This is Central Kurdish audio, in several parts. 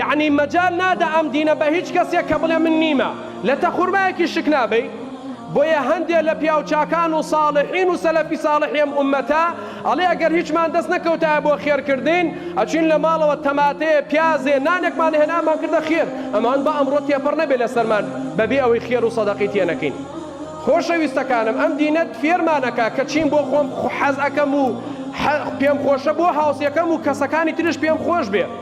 یەعنی مەجال نادە ئەم دینە بە هیچ کەسێک کە بڵێ من نیمە لە تە خورمایەکی شک نابەی بۆیە هەندێ لە پیاو چاکان و ساڵحین و سەلەفی ساڵحی ئەم ئومەتە ئەڵێ ئەگەر هیچمان دەست نەکەوتایە بۆ خێر کردین ئەچوین لە ماڵەوە تەماتەیە پیازێ نانێکمان هێنا ئەمان کردە خێر ئەمان با ئەمڕۆ تێپەڕ نەبێ لە سەرمان بە بێ ئەوەی خێر و سەدەقەی تێ نەکەین خۆشەویستەکانم ئەم دینە فێرمان ئەکا کە چیم بۆ خۆم حەز ئەکەم و پێم خۆشە بۆ هاوسێکەم و کەسەکانی تریش پێم خۆش بێ.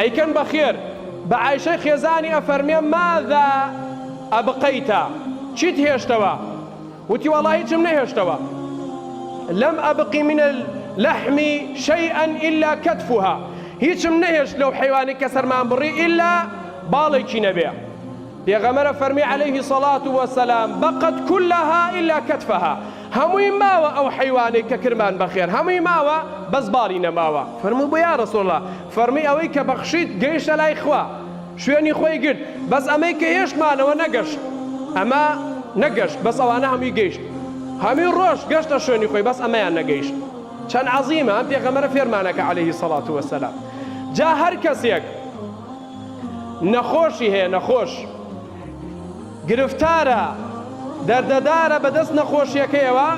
ئەیکەن بەخێر بە عایشەی خێزانی ئەفەرمێ ماذا ابقیت چیت هێشتەوە وتی وەڵا هیچم نەهێشتەوە لم ابق من اللحم شیئا الا کتفها هیچم نەهێشت لەو حەیوانی کە سەرمان بڕی الا باڵێکی نەبێ پێغەمبەر ئەفەرمێ علیه صلات وسلام بقت کلها الا کتفها هەمووی ماوە ئەو حەیوانەی کە کرمان بەخێر هەمووی ماوە بەس باڵی نەماوە فەرموو بۆ یا رسول اللە فەرمووی ئەوەی کە بەخشیت گەیشتە لای خوا شوێنی خۆی گرت بەس ئەمەی کە هێشتمانەوە نەگەشت ئەمە نەگەشت بەس ئەوانە هەمووی گەیشت هەمووی رۆشت گەشتە شوێنی خۆی بەس ئەمەیان نەگەیشت چەند عەزیمە ئەم پێغەمبەرە فێرمانەکە علیە سەڵات وسلام جا هەر کەسێک نەخۆشی هەیە نەخۆش. گرفتارە دەردەدارە بەدەست نەخۆشیەکەیەوە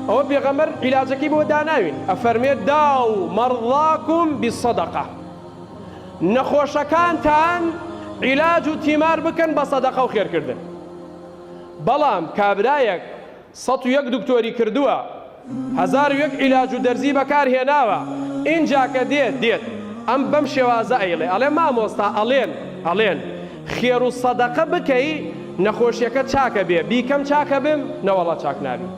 ئەوە پێغەمبەر عیلاجەکەی بۆ داناوین ئەفەرموێت داو مەڕضاکم بالصدقە نەخۆشەکانتان عیلاج و تیمار بکەن بە سەدەقەو خێرکردن بەڵام کابرایەک سەد و یەک دکتۆری کردووە هەزار و یەک عیلاج و دەرزی بەکار هێناوە ئینجا کە دێت دێت ئەم بەم شێوازە ئەیڵێ ئەڵێ مامۆستا ئەڵێن ئەڵێن خێر و سەدەقە بکەی نەخۆشیەکەت چاک ئەبێ بیکەم چاک ئەبم نەوەڵا چاک نابی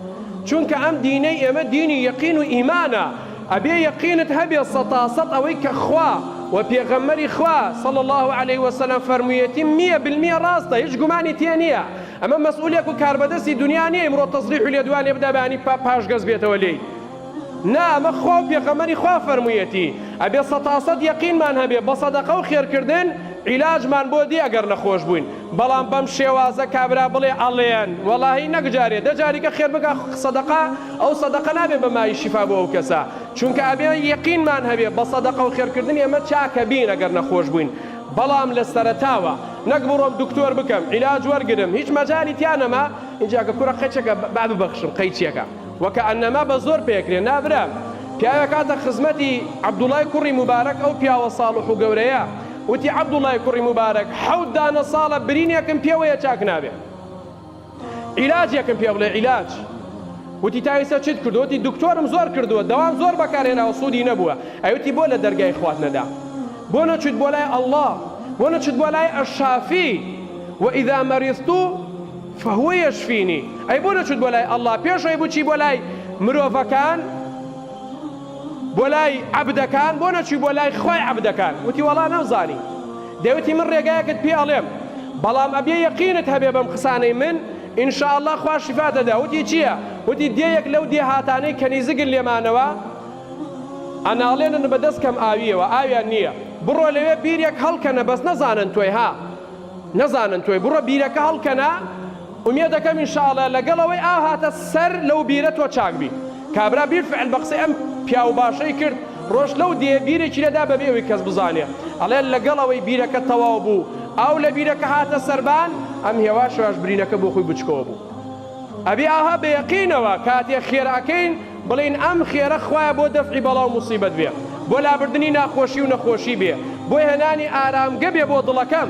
چونکە ئەم دینەی ئێمە دینی یەقین و ئیمانە ئەبێ یەقینت هەبێ سەتاسەد ئەوەی کە خوا و پێغەمبەری خوا صلی اللە علیە وسلم فەرموویەتی میە بالمیە ڕاستە هیچ گومانی تێ نیە ئەمە مەسئولێک و کاربەدەستی دونیا نیە ئیمڕۆ تەزریح و لێدوان لێ بدا بەیانی پا پاش گەز بێتەوە لێی نا ئەمە خوا و پێخەمەری خوا فەرمویەتی ئەبێ سەتا سەت یەقینمان هەبێ بە سەدەقە و خێرکردن عیلاجمان بۆ دێ ئەگەر نەخۆش بووین بەڵام بەم شێوازە کابرا بڵێ ئەڵێن وەڵاهی نەک جارێ دە جاریکە خێر بکا سەدەقە ئەو سەدەقە نابێ بە مای شیفا بۆ ئەو کەسە چونکە ئەبێ یەقینمان هەبێ بە سەدەقە و خێرکردن ئێمە چاکەبین ئەگەر نەخۆش بووین بەڵام لە سەرەتاوە نەک بڕۆم دکتۆر بکەم عیلاج وەرگرم هیچ مەجالی تیا نەما ئینجا کە کورە قەیچەکە با ببەخشم قەیچیەکە وە کە ئەنەما بە زۆر پێکرێ نا برام پیاوێک هاتە خزمەتی عەبدوڵای کوڕی موبارەک ئەو پیاوە ساڵح و گەورەیە وتی عەبدوڵای کوڕی موبارەک حەوت دانە ساڵە برینێکم پێوەیە چاک نابێ عیلاجێکم پێ بڵێ عیلاج وتی تا ئیسە چیت کردوە وتی دکتۆرم زۆر کردوە دەوام زۆر بەکار هێناوە سودی نەبوە ئەوتی بۆ لە دەرگای خوات نەدا بۆ نەچویت بۆ لای اللە بۆ نەچویت بۆ لای الشافی و اذا مریضت فهو یشفینی ئەی بۆ نەچویت بۆ لای اللە پێش ئەوەی بچی بۆ لای مرۆڤەکان بۆ لای عەبدەکان بۆ نەچوی بۆ لای خوای عەبدەکان وتی وەڵا نەمزانی دەیوتی من ڕێگایەکت پێ ئەڵێم بەڵام ئەبێ یەقینت هەبێ بەم قسانەی من ان شاء اللە خوا شیفات ئەدا وتی چیە وتی دێیەک لەو دێهاتانەی کەنیزگن لێمانەوە ئەناڵێنن بە دەست کەم ئاویەوە ئاویان نیە بڕۆ لەوێ بیرێک هەڵکەنە بەس نەزانن تۆی ها نەزانن تۆی بڕۆ بیرەکە هەڵکەنە ئومێدەکەم ان شاء اللە لەگەڵ ئەوەی ئاو هاتە سەر لەو بیرە تۆ چاک بیت. کابرا بیلفعل بە قسەی ئەم پیاو باشەی کرد رۆشت لەو دێیە بیرێکی لێدا بەبێ ئەوەی کەس بزانێ ئەڵێ لەگەڵ ئەوەی بیرەکە تەواو بوو ئاو لە بیرەکە هاتە سەربان ئەم هێواشەش برینەکە بۆ خۆی بچکۆ بوو ئەبێ ئاها بە یەقینەوە کاتێ خێرە ئەکەین بڵێین ئەم خێرە خوایە بۆ دەفعی بەڵاو موسیبەت بێ بۆ لابردنی ناخۆشی و نەخۆشی بێ بۆ هێنانی ئارامگە بێ بۆ دڵەکەم